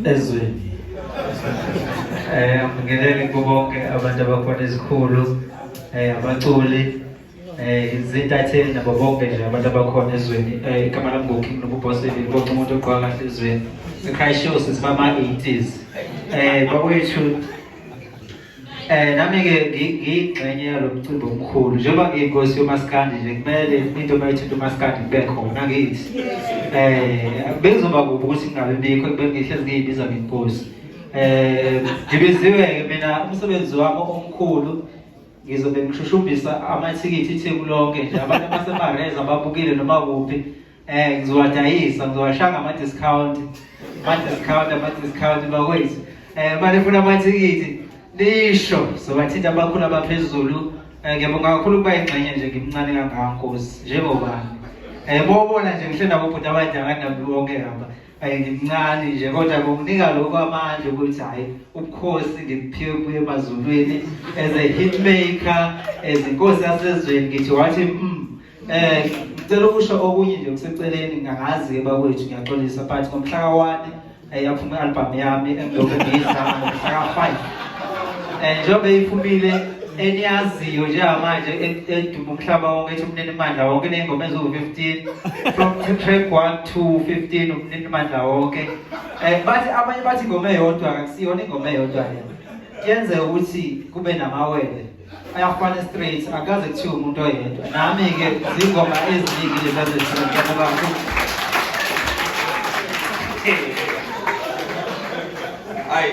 ezweni eh ngingenele kubo bonke abantu abakhona ezikhulu eh abaculi eh izintatheli nabo bonke nje abantu abakhona ezweni eh igama lami ngoking nobubhoseli bonke umuntu ogqoka kahle ezweni ekhaya show sisibama 80s eh bakwethu Eh nami-ke ngiyingxenye yalo mcimbi omkhulu njengoba ngiyinkosi yomasikandi nje kumele into uma ithinta umasikandi kube khona ngithi eh bekuzoba kubi ukuthi ngingabe bikho bengihlezi ngiyibiza ngenkosi eh ngibiziwe-ke mina umsebenzi wami omkhulu ngizobe ngishushumbisa amathikithi itheku lonke nje abantu abasemareza babukile noma kuphi Eh ngizowadayisa ngizowashanga ama discount. Ama discount ama discount bakwethu. Eh manje funa amathikithi lisho sobathinta abakhulu abaphezulu. Eh ngiyabonga kakhulu kuba ingxenye nje ngimncane kangaka Nkosi njengoba. Eh bobona nje ngihle nabo bhuti abadala nabo bonke ngaba. ayingincane nje kodwa kunginika lokho amandla ukuthi hhayi ubukhosi ngibuphiwe kuye emazulwini as a hitmaker as inkosi yasezweni ngithi wathi mm Eh ngicela ukusho okunye nje kuseceleni ngangazi bakwethu ngiyaxolisa but ngomhla ka-1 ayaphuma eh, i-album yami engilokhu ngiyizama ngomhla ka-5 eh njengoba iphumile eniyaziyo njengamanje edume umhlaba wonke ethi umnini mandla wonke ney'ngoma eziwu-15 from track 1 to 15 umnini mandla wonke um bathi abanye bathi ingoma eyodwa kakusiyona ingoma eyodwa yena kuyenzeka ukuthi kube namawele ayafana straight akaze kuthiwa umuntu oyedwa nami-ke zingoma eziningi lezazeziaabakho hayi